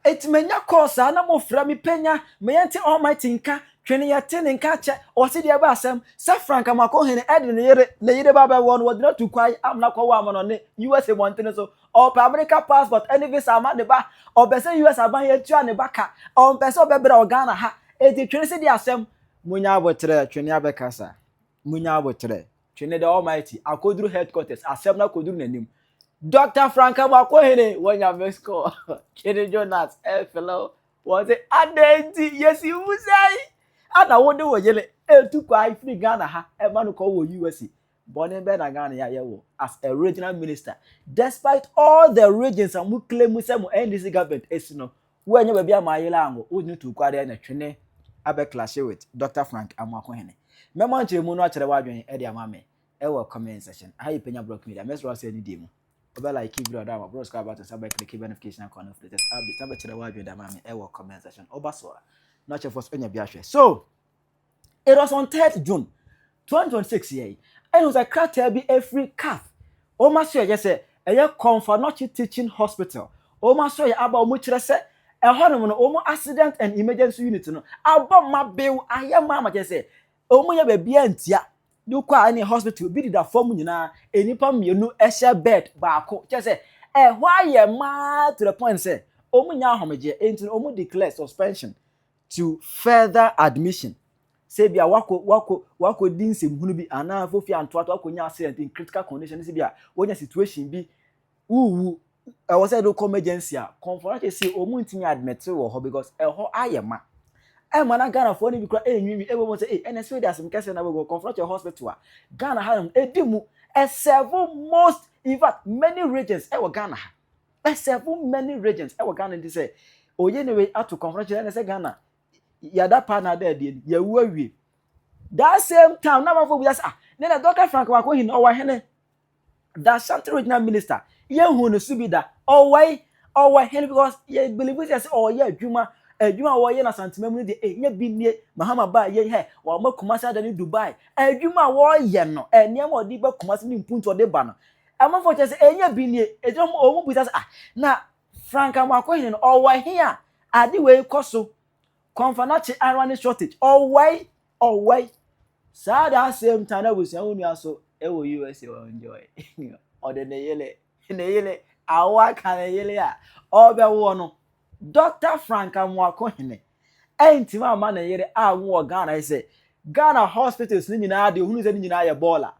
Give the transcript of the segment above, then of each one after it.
Eti menya kɔɔ saa na mofrɛ me panya me yɛnte Almighty nka, twe ne yɛte ne nka kyɛ, ɔse deɛ ɛbɛ asɛm, sɛ Frank Amoako Hene ɛde ne yere, ne yere ba bɛwɔ no, wɔgyina tu kwan amena kɔwɔ ama no ne USA mmɔntene so, ɔɔpɛ Amerika passport ɛne visa ama ne ba, ɔpɛ sɛ US aban yɛ tua ne ba ka, ɔmpɛ sɛ ɔbɛbrɛ wɔ Ghana ha, eti twe ne se deɛ asɛm, Munya aboterɛ, twe ne abɛkasa, munya aboterɛ. Twene the Almighty akoduru headquarters asɛm no akoduru n'anim Doctor Frank Amoakohene wɔnya miss call Twene Jonas ɛfrɛ wo wɔse adɛn nti yɛsi wo sɛi ana wode wo yere ɛtu kwan firi Ghana ha ɛma no kɔ wɔ USA bɔne bɛn na Ghana yɛayɛ wo as a regional minister despite all the regions a mo claim sɛ mo NDC government ɛsi no Woannya baabi amma ayera ango wo ne tuuku adeɛ na twene abɛ clashe with Doctor Frank Amoakohene. Mɛma nkyerɛmu no akyerɛ w'adwene de ama me wɔ comment section. Aha yɛ Penya Blocks Media. Mɛsrɛ wo sɛ ne die mu. Wobɛ like video no ama, bro subscribe button san bɛ click bɛ notification icon no for latest updates na bɛkyerɛ w'adwene de ama me wɔ comment section. Woba so a, na kyɛ fo so anya bi ahwɛ. So! it was on third june twenty twenty six yɛ yi ɛna sɛ krataa bi efiri caf wɔn aso yɛ sɛ ɛyɛ kɔnfanɔkye teaching hospital wɔn aso yɛ aba wɔn kyerɛ sɛ ɛhɔ nom no wɔn accident and emergency unit no abɔ ma bew ayɛ ma ama kyerɛ sɛ wɔn yɛ baabi a ntia de kɔ a ɛne hospital bi deda fam nyinaa nnipa mmienu ɛhyɛ bed baako kyerɛ sɛ ɛhɔ ayɛ maa to the point sɛ wɔn nyɛ ahomegye enti wɔn declare suspension. to further admission sɛ bi a wakɔ wakɔ wakɔ di nsɛmhunu bi anaa fofi antoatoa akɔ nya accident in critical condition ne sɛ bi a wonya situation bi wuwu ɛwɔ sɛ ɛde kɔ emergency a kɔnfɔnakye si wɔn ntumi admit wɔ hɔ because ɛhɔ ayɛ ma ɛma na ghanafoɔ no bi kora ɛnwiinwi ɛbɔ mu sɛ ɛyi ɛna ɛsɛ ɔdi asɛm kɛseɛ na bɛgɔ kɔnfɔnakye hospital a ghana ha nom ɛdi mu ɛsɛvo most in fact many regions ɛwɔ ghana ha I serve many regions ɛwɔ Ghana nti sɛ oye ne wei ato kɔnfɔn kyerɛ ne sɛ Ghana yada paa na ada adie ni yɛwu awie that same time na amanfo bi asa ah, ne na Dr. Frank Wako hin ɔwɔ hene da Shanti regional minister yɛhu ne so bi da ɔwɔ yi ɔwɔ hene because yɛ believe sɛ sɛ ɔyɛ adwuma adwuma a wɔyɛ na santima mu no deɛ ɛnyɛ eh, bi nie mahama baa yɛ hɛ wɔn ama kumase ada ne Dubai adwuma a wɔyɛ no eh, nneɛma a ɔde ba kumase ne mpuntu ɔde ba no Amanfoɔ kyerɛ sɛ ɛnyɛ bi nie. Ɛgyina hɔ wɔn mu bisa sɛ, ah, na franka mako hene no, ɔwɔ he a ade wei kɔ so? Kɔnfanakye ara ne shortage. Ɔwɔe, ɔwɔe. Saa da asɛm ta na abusua wo nua so ɛwɔ USA wɔ enjoy. Ɔde ne yele, ne yele, awo aka ne yele a, ɔbɛwoɔ no. Dr. Franka Moako Hene ɛntimi ama ne yere anwo wɔ Ghana sɛ Ghana hospitals no nyinaa deɛ ohunu sɛ ne nyinaa yɛ bɔɔla.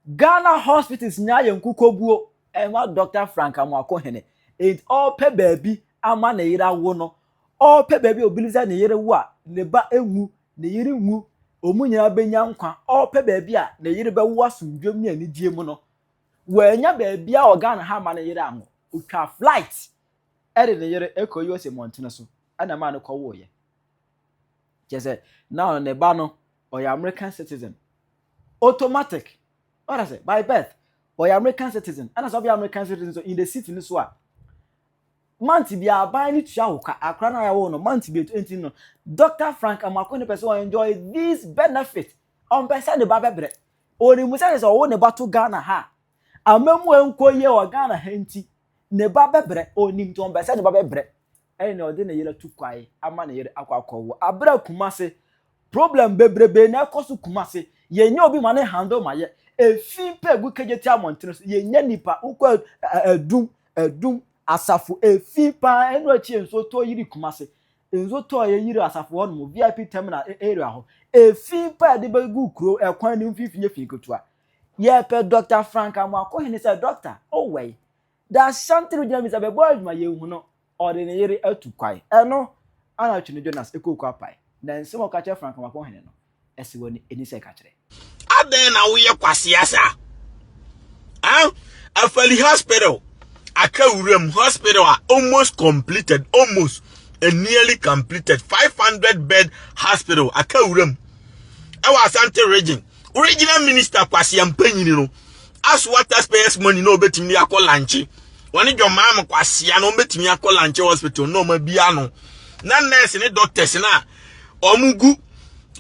Ghana hospitals nyinaa ayɛ nkukoguo ɛma Dɔkta Frank Amoako Hene. Enti ɔrepɛ baabi ama ne yere awo no, ɔrepɛ baabi a obi sɛ ne yere wo a ne ba nwu, ne yere nwu, wɔn nyinaa bɛnya nkwa. Ɔrepɛ baabi a ne yere bɛwo asomdwoeɛ mu ne anigyeɛ mu no, wɔanya baabi a wɔ Ghana ha ama ne yere anwo. Ɔtwa flight de ne yere kɔ USA mmɔntene so na ɛmaa no kɔwoeɛ. Kyerɛ sɛ, now ne ba no, ɔyɛ American citizen. Automatic. What I say? By birth. Ɔyɛ American citizen. Ɛna sɛ ɔbɛyɛ American citizen so in the city no so a, month bi aban no tua wo ka akora no a yɛwɔ no month bi nti no dr frank amako ne pɛ sɛ enjoy this benefit ɔmpɛ sɛ ne ba bɛbrɛ ɔnim sɛ sɛ ɔwo ne ba to ghana ha amamu ɛnkɔ yie wɔ ghana ha nti ne ba bɛbrɛ ɔnim nti ɔmpɛ sɛ ne ba bɛbrɛ ɛyɛ nea ɔde ne yere to kwae ama ne yere akɔ akɔwo abra kumase problem bebrebe na ɛkɔ so kumase yɛnyɛ obi ma ne handle ma yɛ efi mpa egu kegye ti amɔntene so yɛnyɛ nipa wokɔ adum adum asafo efi paa ɛno akyi nso tɔ yiri kumase nso tɔ yɛ yiri asafo hɔ nom vip terminal e, area hɔ efi mpa ɛde bɛgu kuro ɛkwan ne mfimfini efi ketewa yɛpɛ dr frank amoakohene sɛ dr owɛi The Ashanti regional minister bɛbɔ adwuma yɛhu no ɔde ne yere atu kwae ɛno ana Twene Jonas ɛkɔɔ Kwapai na nsɛm a ɔka kyerɛ Frankamako hene no ɛsɛ w'ani ɛni sɛ ɛka kyerɛ. Adɛn na woyɛ kwasea saa eh? Afali hospital atwa wuram hospital a almost completed almost and nearly completed 500 bed hospital atwa wuram ɛwɔ Asante region original minister kwasea mpanyini no asoa taxpayers money na ɔbɛtumi de akɔ lanche wɔne dwɔmaa mo kwasea na ɔbɛtumi akɔ lanche hospital na ɔma bia no na nurse ne doctors no a wɔn gu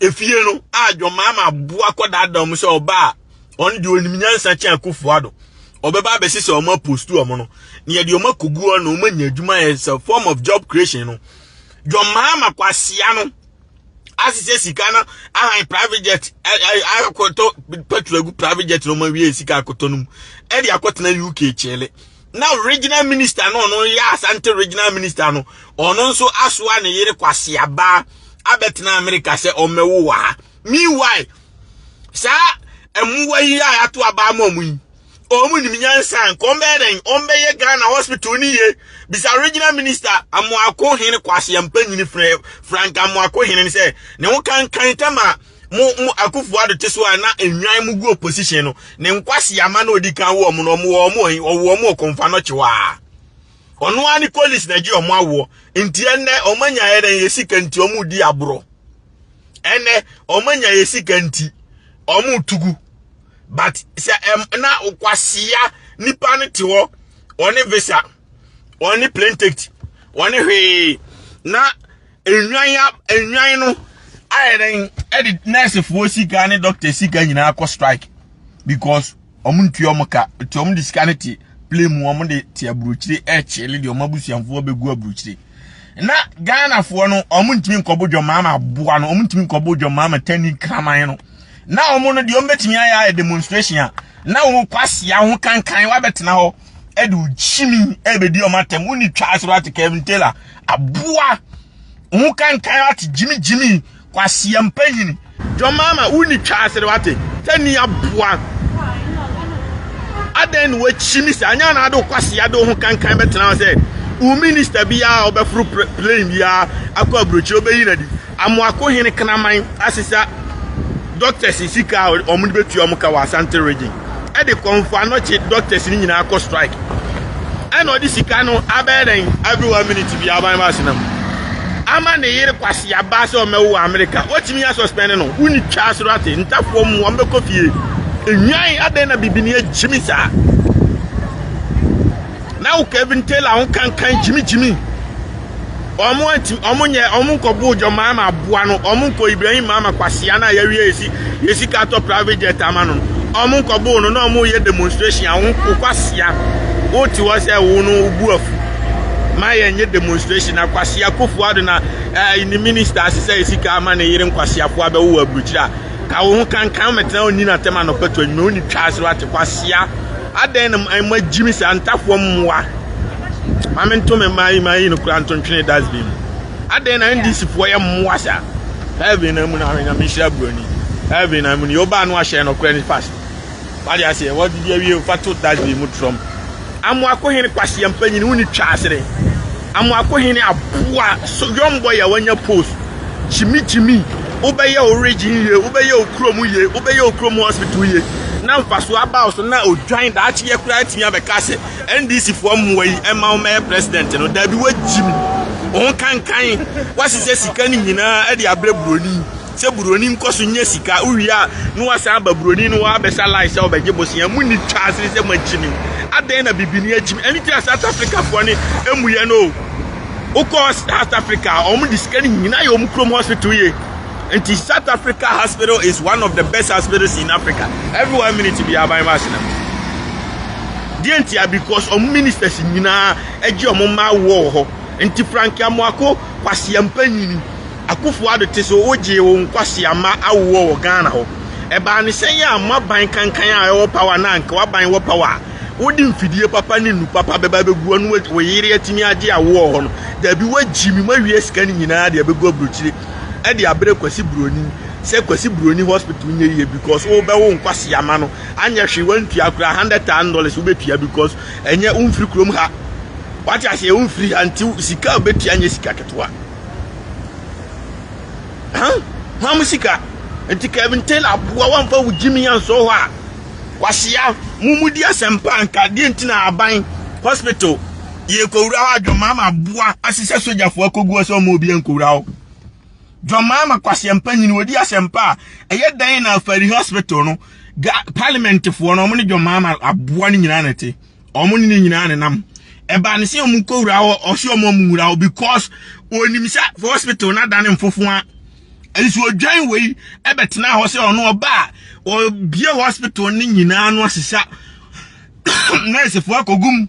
efie no a dwɔmaa ma aboa kɔ daadaa wɔn sɛ ɔba a wɔn deɛ onim nyansa kyɛn akufo ado ɔbɛba abɛsi sɛ wɔn apostu wɔn no na yɛde wɔn akogu wɔn na wɔn anya adwuma yɛ sɛ form of job creation no dwɔmaa ma kwasea no. asese sika no ahan private jet akɔtɔ petrol agu private jet no ma wie sika akɔtɔ no mu ɛde akɔtena uk kyele na regional minister no ɔno yɛ asante regional minister no ɔno nso asoa ne yere kwaseaba abɛtena america sɛ ɔmmɛwo wɔ ha meanwhile saa mmoa yi a yɛato abaa ma ɔmo yi wɔn nim nyansa nka wɔn bɛyɛ dɛn wɔn bɛyɛ ghana hospital ni yie bisa regional minister amoako hene kwasi mpanyini frɛ frank amoako hene sɛ ne ho kankan tam a mo mo akufo ado te so a na enwan mo gu opposition no ne nkwasi ama na odi kan wɔ wɔn no wɔn wɔ wɔn ɔwɔ wɔn ɔkɔnfa no kyewaa ɔno ara ne colleagues na gye wɔn awoɔ nti ɛnɛ wɔn anya yɛ dɛn yɛ sika nti wɔn di aborɔ ɛnɛ wɔn anya yɛ sika nti wɔn tugu. but sɛ ɛm na okwasia nipa no te hɔ ɔne visa ɔne plane ticket ɔne hwee na enwan ya enwan no ayɛ dɛn ɛde nɛɛsefoɔ sika ne dɔkta sika nyinaa kɔ strike because wɔn ntua wɔn ka nti wɔn de sika no te plane mu wɔn de te aburokyire ɛrekyele deɛ wɔn abusuafoɔ bɛgu aburokyire. na ghanafoɔ no wɔn ntumi nkɔbo dwɔmaa ma aboa no wɔn ntumi nkɔbo dwɔmaa ma tani kraman no na wɔn no deɛ wɔn bɛtumi ayɛ ayɛ demonstration a na wɔn kɔ asia ho kankan wabɛtena hɔ ɛde okyimi ɛbɛdi wɔn atɛm wɔn ni twa asoro ate kevin taylor aboa ho kankan ate gyimi gyimi Kwasia mpanyini. John Mahama wo ni twa asere wate sɛ ni aboa adɛn na wakyimi saa nyɛ anaa de wo kwasia de wo ho kankan bɛtena hɔ sɛ wo minista biara ɔbɛforo plane biara akɔ aburokyire ɔbɛyi na di amoako hene kraman asesa doctors sika a wɔn de bɛtua wɔn ka wɔ asante region de kɔ mfoano kye doctors no nyinaa kɔ strike ɛna ɔde sika no abɛyɛ dɛn every one minute bi aban ba asena mu ama ne yere kwasi aba sɛ ɔmɛwo wɔ amerika wɔtumi yɛ suspend no wonni twa asoro ate ntafoɔ mu ɔmbɛkɔ fie enwan adɛn na bibini agyimi saa na wo kevin taylor ho kankan gyimigyimi wɔn anti wɔn nyɛ wɔn nkɔ buu jɔ maa ma aboa no wɔn nkɔ ibrahim maa ma kwasia no a yɛawie yɛsi yɛsi ka atɔ private jet ama no wɔn nkɔ buu no na wɔn yɛ demonstration a wɔn kɔ kwasia wote hɔ sɛ wo no bu afu ma yɛn nyɛ demonstration na kwasia kofu ado na ɛɛ eh, ne minister ase sɛ yɛsi ka ama ne yere nkwasia fo abɛwo wɔ aburukyiri a ka wo ho kankan mɛtena wɔn nyina tɛm anɔpɛtɔ nyina wɔn ni twa ase wate kwasia adɛn na mo agyimi saa ntafoɔ mmoa. Maame nto me mmaa yi ma yi no kura nto ntwene dustbin mu. Adɛn na NDC foɔ yɛ mmoa saa? Heaven na mu na ahwɛ nyame nhyira buroni. Heaven na mu ni ɔbaa no ahyɛ no kura ni past. Wade aseɛ wɔde di awie fa to dustbin mu trɔm. Amoako hene kwasi mpanyin wo ni twa asere. Amoako hene aboa so young boy a wanya post. Jimmy Jimmy wobɛyɛ wo region yie wobɛyɛ wo kurom yie wobɛyɛ wo kurom hospital yie na mfasoɔ aba wo so na odwan daakye yɛ koraa atumi abɛka sɛ ndc foɔ mmoa yi ɛma wɔn mɛyɛ president no dabi wagyim wɔn kankan wasesɛ sika no nyinaa ɛde abrɛ buroni sɛ buroni nkɔ so nyɛ sika wowie a na wasan aba buroni no wabɛsa lai sɛ ɔbɛgye bosea mu ni twa asene sɛ moagyimi adɛn na bibini agyimi ɛne ti a south africa foɔ ne ɛmuyɛ no wokɔ south africa a wɔn de sika no nyinaa yɛ wɔn kurom hospital yie nti south africa hospital is one of the best hospitals in africa every one minute bi aban ma asena mu deɛ ntia because ɔmo ministers nyinaa agye ɔmo mma awoɔ wɔ hɔ nti frankia moako kwasia mpanyini akufo ado te so wogyee wo nkwasia mma awoɔ wɔ ghana hɔ ɛbaa ne sɛn yɛ a mo aban kankan a ɛwɔ power na anka waban wɔ power a wode mfidie papa ne nu papa bɛba bɛgu ɔno wo yere atumi agye awoɔ hɔ no daabi woagyi mi moawie sika no nyinaa de abɛgu aburokyire ɛde abrɛ Kwasi Buroni sɛ Kwasi Buroni hospital nyɛ yie because wobɛwo nkwasea ma no anyɛ hwee wantua koraa hundred thousand dollars wobɛtua because ɛnyɛ womfiri kurom ha wate aseɛ womfiri ha nti sika a wobɛtua nyɛ sika ketewa hwa mo sika nti Kevin Taylor aboa wamfa wo gyimi ansɔ hɔ a kwasea mo mudi asɛmpa nka deɛ nti na aban hospital yɛkɔwura hɔ a dwɔmaa ma aboa ahyehyɛ sogyafoɔ akɔgu hɔ sɛ ɔma obi ankɔwura hɔ dwɔmaa ma kwasɛmpa nyini wɔdi asɛmpa a ɛyɛ dan na afari hospital no parliamentfoɔ no ɔmo ne dwɔmaa ma aboa no nyinaa na ɛte ɔmo ne ne nyinaa ne nam ɛbaa ne sɛ ɔmo kɔwura hɔ ɔsɛ ɔmo ɔmo wura hɔ because onim sɛ hospital no adane mfofoa nso odwan wei ɛbɛtena hɔ sɛ ɔno ɔba a ɔbie hospital no nyinaa no asesa nursefoɔ akɔgum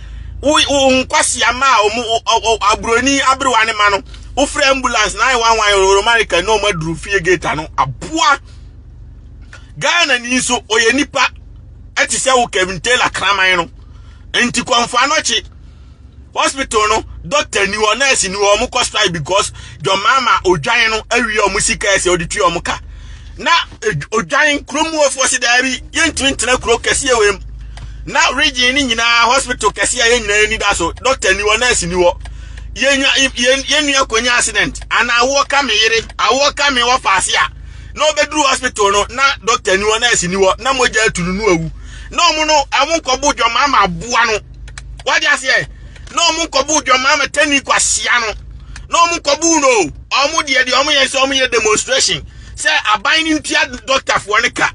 wo wo nkwasea ma a wɔn aburoni aberewa ne ma no wofrɛ ambulance na ayɛ one one oromarika na wɔn aduru fie gate ano aboa ghana ni nso ɔyɛ nipa ɛte sɛ wo kevin taylor kraman no nti kɔnfoa no kye hospital no doctor ni hɔ nurse ni hɔ wɔn kɔ strike because john mama odwan no awie wɔn sika ɛsɛ ɔde tua wɔn ka. Na odwan kurom mufoɔ se daabi yɛntumi ntena kuro kɛseɛ wei mu na region no nyinaa hospital kɛseɛ a yɛn nyinaa ani da so doctor ni hɔ nurse ni hɔ yɛn nua kɔnya accident ana awoɔ ka me yere awoɔ ka me wɔfa ase a na ɔbɛduru hospital no na doctor ni hɔ nurse ni hɔ na mogya atu no no awu na ɔmo no ɔmo nkɔbo dwama ama aboa no wade aseɛ na ɔmo nkɔbo dwama ama tani kwasia no na ɔmo nkɔbo no ɔmo deɛ deɛ ɔmo yɛ sɛ ɔmo yɛ demonstration sɛ aban no ntua dɔktafoɔ no ka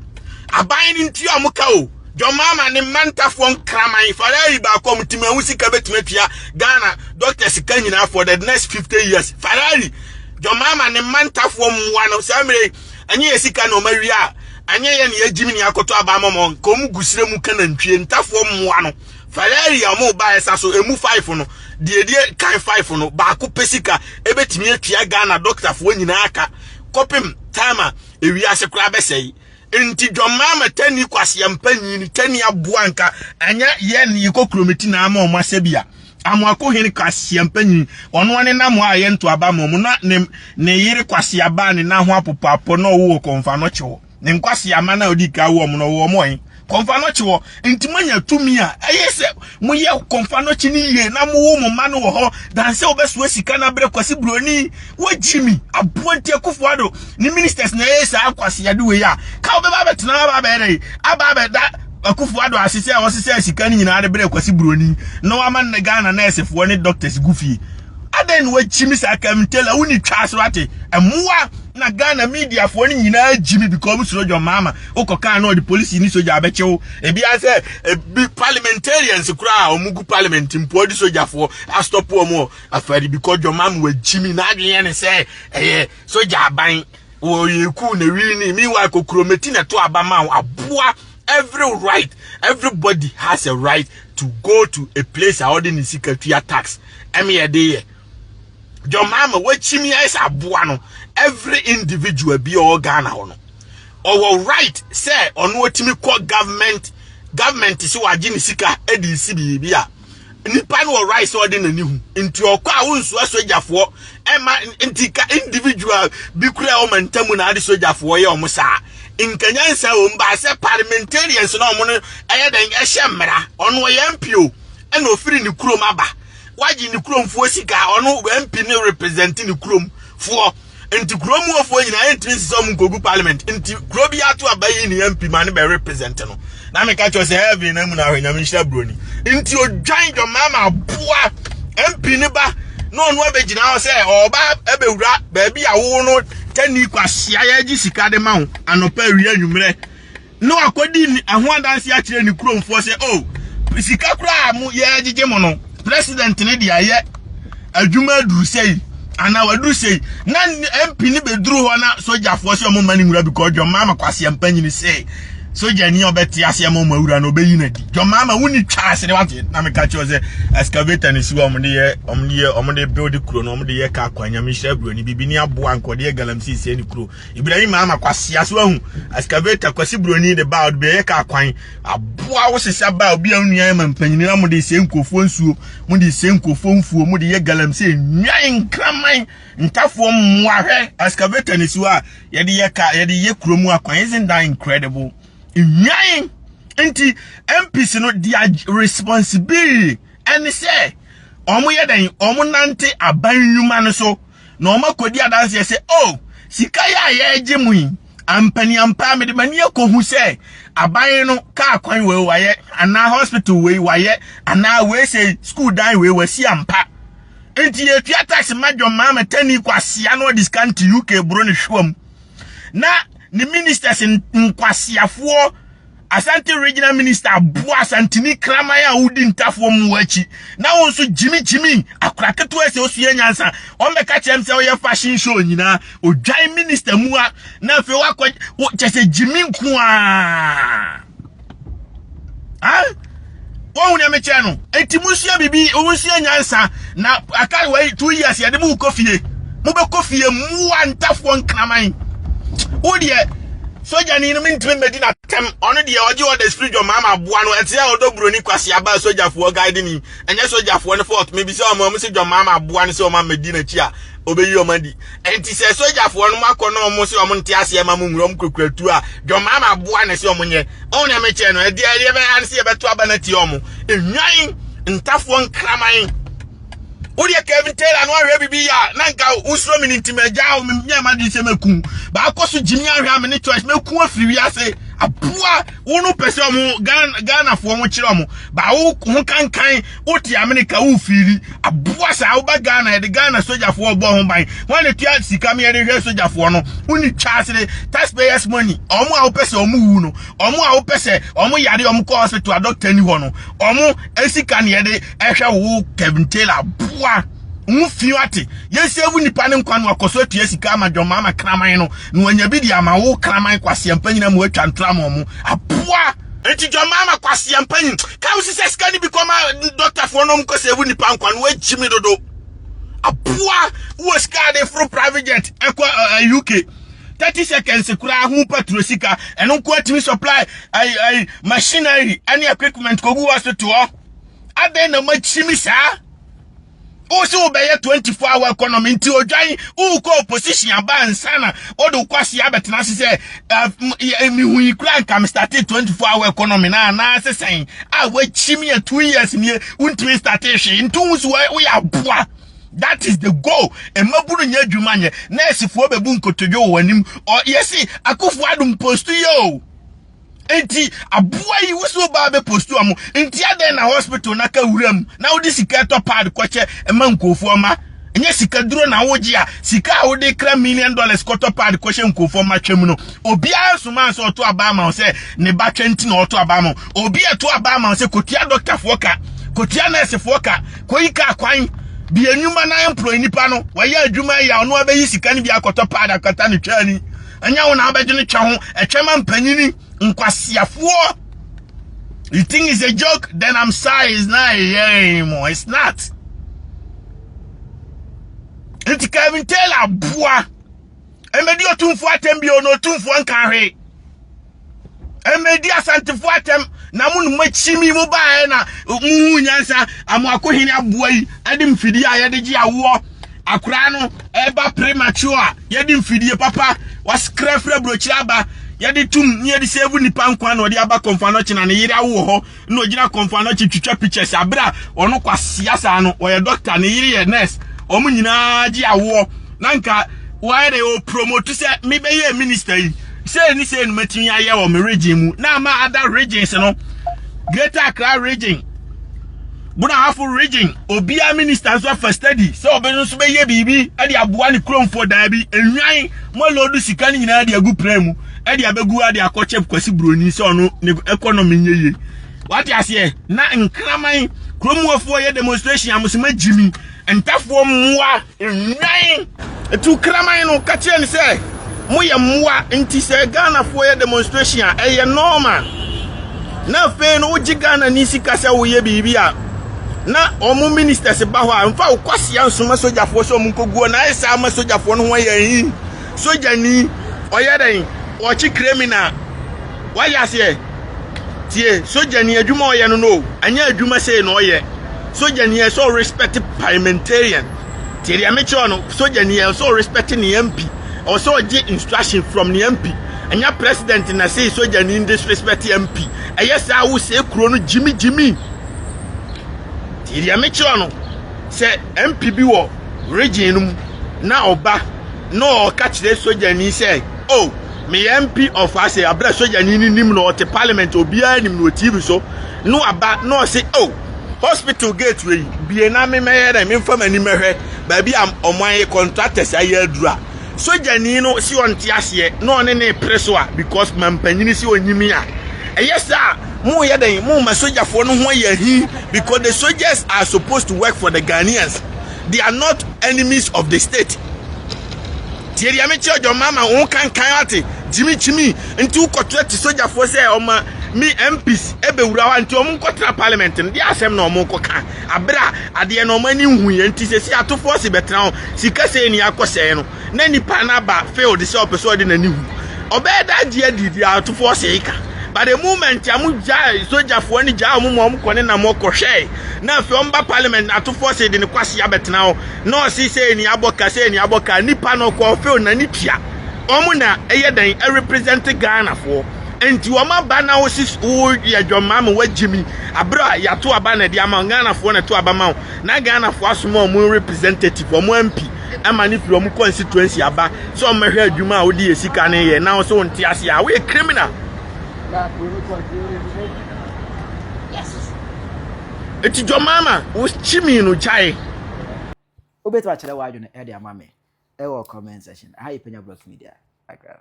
aban no ntua ɔmo ka o dɔmaama ne mmantafoɔ nkraman farari baako ɔmo tim ɛho sika bɛtumi atua ghana dɔktas ka nyinaa for the next 50 years farari dɔmaama ne mmantafoɔ mmoa no saa mmerɛ ɛnyɛ yɛ sika na ɔma wie a ɛnyɛ yɛ ne yɛgyimi ne akɔtɔ abamɔmɔ nka ɔmo gusire mu ka nantwie ntafoɔ mmoa no farari a ɔmo ba ɛsa so emu five no deɛdeɛ kan five no baako pɛ sika ɛbɛtumi atua ghana dɔktafoɔ nyinaa ka kɔpem time a ewiase koraa bɛsɛe. Enti dwammaa ma tani kwaseɛ mpa nyini, tani aboa nka, anyɛ yɛ ne yɛkɔ kurometi na ama ɔmo asɛ bi a. Amoako hene kwaseɛ mpa nyini, ɔnoa ne namoa a yɛnto aba ma ɔmo, na ne yere kwaseɛ aba a ne nan ho apopɔ apɔ na ɔwo wɔ kɔnfa no kye wɔ. ne nkwaseama no a ɔdi kan wɔ mu no ɔwɔ mu ɔhen kɔnfa nɔkye wɔ nti moanya tumi a ɛyɛ sɛ moyɛ kɔnfa nɔkye no yie na mowo mo mma no wɔ hɔ dan sɛ wobɛsoa sika no abrɛ kwasi buroni wagyi mi aboa nti akufo ado ne ministers na ɛyɛ saa kwaseade wei a ka wobɛba abɛtena aba abɛyɛ dɛ aba abɛda akufo ado ase sɛ wɔsesɛ sika no nyinaa de brɛ kwasi buroni na wama ne ghana nɛɛsefoɔ ne doctors gu fie adɛn na wagyi mi saa kamtela woni twa so ate mmoa na Ghana mediafoɔ no nyinaa gyi me because wɔsuro John Mahama wokɔkaa na ɔde polisi ne sogya abɛkye wo ebia sɛ ebi parliamentarians koraa wɔn gu parliament mpo ɔde sogyafoɔ astɔpo wɔn wɔ afari because John Mahama wɔagyi me n'adwene yɛ ne sɛ ɛyɛ sogya aban wɔyɛ kuu na wii ne meanwhile kokuro meti na to aba ma wo aboa every right everybody has a right to go to a place a ɔde ne sika tua tax ɛmeyɛ de yɛ John Mahama wakyimi ayɛ sɛ aboa no every individual bi ɔwɔ Ghana hɔ no ɔwɔ right sɛ ɔno otumi kɔ government government sɛ wagye ne sika de si biribi a nipa no wɔ right sɛ ɔde n'ani hu nti ɔkɔ a wonsoa sogyafoɔ ɛma nti ka individual bi kura ɔma ntamu na ade sogyafoɔ yɛ ɔmo saa nkanyansa wɔm baa sɛ parliamentarians na ɔmo no ɛyɛ dɛn ɛhyɛ mmara ɔno ɔyɛ mpio ɛna ofiri ne kurom aba Wagye ne kurom foɔ sika ɔno MP ne represent ne kurom foɔ nti kurom mu foɔ nyinaa yɛntumi nsesa ɔmo nkogu parliament nti kuro bi ato aba yi ne MP ma ne bɛ represent no na meka kyerɛ sɛ heaven na mu na ahwɛ nyame nhyira broni nti odwan dwama ma aboa MP ne ba na ɔno abɛgyina hɔ sɛ ɔba ɛbɛwura baabi a wo no tani kwahyia yɛgye sika de ma wo anɔpa awia anwummerɛ na wakɔdi ɛho adanse akyerɛ ne kuromfoɔ sɛ o oh, sika koraa a mo yɛgyegye mo no president ne deɛ ayɛ adwuma aduru sɛi anaa waduru sɛi na mp ne bɛduru hɔ na sogyafoɔ sɛ ɔmo ma ne nwura bikɔ dwɔmaa ma kwaseɛ mpa nyini sɛ sogya ni a ɔbɛte aseɛ ma ɔmo awura na ɔbɛyi no adi dwɔmaa ma wonni twa ase ne wate na meka kyerɛ sɛ excavator ne si wɔ ɔmo de yɛ ɔmo de yɛ ɔmo de build kuro no ɔmo de yɛ kaa kwan nyame hyira buroni bibi ne aboa nkɔde yɛ galamsey sɛ ne kuro Ibrahim ama kwasea so ahu excavator kwasi broni de ba ɔde bɛyɛ kaa kwan aboa wo sesa ba obi a onua ma mpanyin na mo de sɛ nkurɔfoɔ nsuo mo de sɛ nkurɔfoɔ mfuo mo de yɛ galamsey nwan nkraman ntafoɔ mmoa hwɛ excavator ne siwa a yɛde yɛ ka yɛde yɛ kuro mu akwan isn't that incredible nwan nti MPs no dia responsibility ɛne sɛ wɔn yɛ dɛn wɔn nante aban nnwuma no so na wɔakɔdi adanseɛ sɛ, O, sika yi a yɛregye mu yi, ampa ni ampa a, mede m'ani akɔhu sɛ aban no kaa kwan wei wayɛ, anaa hospital wei wayɛ, anaa wei sɛ sukuu dan wei wasi ampa. Nti yɛtua tax ma John Mahama tani kwasea na ɔde sika nte UK buro ne hwewam. Na ne ministers nkwasiafoɔ Asante Regional Minister aboa Asantini kraman a wodi ntafoɔ mu akyi na wo nso gyimi gyimi akora ketewa sɛ osua nyansa ɔmmɛka kyerɛ m sɛ ɔyɛ fashion show nyinaa odwan minister mu a na afei wakɔ kyɛ sɛ gyimi nko a Wɔhu nea mekyerɛ no. Enti monsua biribi, monsua nyansa. Na aka wei two years yɛde mo kɔ fie. Mobɛkɔ fie mmoa ntafoɔ nkraman. Wo deɛ sogyani no mentumi mmɛdi n'atɛm. Ɔno deɛ ɔgye ɔda spirit dwom ama aboa no. Ɛte sɛ ɔdɔ buroni kwaseaba a sogyafoɔ guide ni. Ɛnyɛ sogyafoɔ no fault. Mebisa wɔn a wɔsi dwom ama aboa no sɛ wɔn ammɛdi n'akyi a Obeyi wɔn adi. Enti sɛ sogyafoɔ no akɔ na wɔn se wɔn nte aseɛ ma mo nwura wɔn kurakura tuo a, John Mahama aboa no se wɔn nyɛ. Ɔn na mekyerɛ no, ɛdeɛ ɛdeɛ bɛyɛ ano se yɛbɛto aba no atia wɔn. Nnwan, ntafoɔ nkraman. Wodeɛ Kevin Taylor no ahwɛ bibi ya na nka wosuro me no nti magya wo menyɛ ma de sɛ maku baakɔ so gyimi ahwɛ a me ne choice maku afiri wiase aboa wo no pɛ sɛ ɔmo Ghanafoɔ ho kyerɛ ɔmo baa wo ho kankan wote amene ka wo fiili aboa saa woba ghana yɛde ghana sogyafoɔ bɔ ho ban wɔn na tua sika mi yɛde hwɛ sogyafoɔ no woni twaasere taxpayers money ɔmo a wopɛ sɛ ɔmo wu no ɔmo a wopɛ sɛ ɔmo yare ɔmo kɔ hospital a dɔkta ni hɔ no ɔmo esika na yɛde ɛhwɛ wo kevin taylor aboa wo fi ate yɛsɛvu nipa ne nkwa no akɔso atua sika ama dwɔma ama kraman no na wanya bi de ama wo kraman kwaseampa nyina mu atwa ntoa ma ɔmo aboa Enti John Mahama kwasia mpanyin ka wo sisɛ sika ni bi kɔma doctor fo no mko sɛ wo nipa nkwa no agyi me dodo. Aboa wo sika de foro private jet ɛkɔ eh, eh, UK. 30 seconds kura ho patro sika ɛno nko atumi supply ai ai machinery ɛne equipment kogu hospital. Aden na makyimi saa. wo se wobɛyɛ 24 hour economy nti odwan wokɔ opposition aba nsa na wode wokɔ ase abɛtena ase sɛ eh, mehu yi kora nka me starte 24 hour economy na anaa sɛ sɛn a wakyi me a 2 years nie wontumi starte hwee nti wo so woyɛ aboa that is the goal mmabunu nyɛ adwuma nyɛ nɛɛsefoɔ bɛbu nkotodwe wɔ w'anim ɔyɛ se akofoɔ adom post yi o Enti aboa yi wusu ɔbaa bɛ postu ɔmo. Nti adɛn na hospital na ka wura mu na wode sika tɔ pad kɔkyɛ ɛma nkurɔfoɔ ma. Nyɛ sika duro na wogye a sika a wode kra million dollars kɔtɔ pad kɔhyɛ nkurɔfoɔ ma twam no. Obiara nsomaa nsɛ ɔto abaa ma wo sɛ ne ba twɛ nti na ɔto abaa ma wo. Obi a ɛto abaa ma wo sɛ kɔtua dɔktafoɔ ka, kɔtua nɛɛsefoɔ ka, kɔyi kaa kwan. Bi anwuma na employ nipa no, wayɛ adwuma ayi a ɔno abɛyi sika no bi akɔtɔ pad akata ne twani. ɛnyɛ wo na abɛgye no twɛ ho ɛtwɛ ma mpanyini nkwaseafoɔ you think it's a joke then i'm sorry it's not a year anymore it's not nti kevin taylor boa ɛmɛdi otumfoɔ atɛm bio na otumfoɔ nka hwee ɛmɛdi asantefo atɛm na mo noma kyimi mo baeɛ na mo hu nyansa amo akohene aboa yi ɛde mfidie a yɛde gye awoɔ akora no ɛba premature a yɛde mfidie papa waskrafra burokyerɛ aba yɛde tum ne yɛde sɛvu nipa nkwa na ɔde aba kɔmfa no kyena ne yere awoɔ hɔ na ogyina kɔmfoa no akyi twitwa pictures abere a ɔno kwasea saa no ɔyɛ doctor ne yere yɛ nurse wɔn nyinaa gye awoɔ na nka wɔayɛ dɛ o promote sɛ mebɛyɛ minister yi sɛ ne sɛ no matumi ayɛ wɔ me region mu na ama ada regions no greater accra region bunahafo region obiara minister nso afa study sɛ ɔbɛ nso bɛyɛ biribi de aboa ne kuromfoɔ daa bi enwan mo lodu sika no nyinaa de agu pran mu ɛde abɛgu ade akɔkyɛ kwasi buroni sɛ ɔno ne ɛkɔnɔmi nyɛ yie wate aseɛ na nkraman kurom wafoɔ yɛ demonstration amosoma gyimi ntafoɔ mmoa nnwan ɛtu kraman no ka kyerɛ ne sɛ moyɛ mmoa nti sɛ ghanafoɔ yɛ demonstration a ɛyɛ normal na afei no wogye ghana ni sika sɛ woyɛ biribi a na wɔn ministers ba hɔ a nfa wokɔsia nsoma sogyafoɔ sɛ wɔn nkɔguo na ayɛ saa ama sogyafoɔ no ho ayɛ hin sogyani ɔyɛ dɛn ɔkye criminal wayɛ aseɛ tie sogyani adwuma ɔyɛ no no anyɛ adwuma sei na ɔyɛ sogyani ɛsɛ ɔ respect parliamentarian tie deɛ mekyerɛ no sogyani ɛsɛ ɔ respect ne mp ɛwɔ sɛ ɔgye instruction from ne mp ɛnyɛ president na sei sogyani disrespect mp ɛyɛ saa wo sɛ kuro no gyimi gyimi tie deɛ mekyerɛ no sɛ MP bi wɔ region no mu na ɔba na ɔka kyerɛ sogyani sɛ o oh, meyɛ MP of ase abira sogyani no nim na ɔte parliament obiara nim na wɔ TV so na waba na ɔse o oh, hospital gate wei bie na memɛyɛ dɛ memfa m'ani mɛhwɛ baabi a ɔmo ayɛ contractors ayɛ aduru a sogyani no si ɔnte aseɛ na ɔne ne pere so a because mampanyini si onyimi a ɛyɛ sɛ a Mo yɛ dɛn? Mo ma sojafoɔ no ho yɛ hi because the soldiers are supposed to work for the Ghanaians. They are not enemies of the state. Tie deɛ me kyerɛ John Mahama wo kankan ate gyimi gyimi nti wokɔtrɛ te sojafoɔ sɛ ɔma me MPs ɛbɛwura hɔ nti ɔmo nkɔtra parliament no deɛ asɛm na ɔmo kɔka abere a adeɛ na ɔmo ani nhu yɛ nti sɛ si ato fɔɔse bɛtena hɔ sika sɛ ni akɔsɛe no na nipa no aba field sɛ ɔpɛ sɛ ɔde n'ani hu ɔbɛyɛ da agye adi di atofoɔ sɛ eka but the moment a mo gyae sogyafoɔ no gyae ɔmo ma ɔmo kɔ ne nam ɔkɔhwɛe na afei ɔmo ba parliament na atofoɔ sɛ de ne kwasi abɛtena hɔ na ɔse sɛ ni abɔ ka sɛ ni abɔ ka nipa no ɔkɔ field na ne tua ɔmo na ɛyɛ dɛn ɛrepresent ghanafoɔ nti wɔn aba na wosi woyɛ dwɔnmaa ma wagye mi abere a yɛato aba na ɛde ama ghanafoɔ na ɛto aba ma wo na ghanafoɔ asoma wɔn representative wɔn ampi ɛma no pira ɔmo constituency aba sɛ ɔmo mɛhwɛ adwuma a wode yɛ sika no yɛ na sɛ wonte ase a woyɛ criminal eti jɔmaama wo kyimi no gyae wobɛtumi akyerɛ w'adwene de ama me ɛwɔ comment section aha yɛ panya block media akra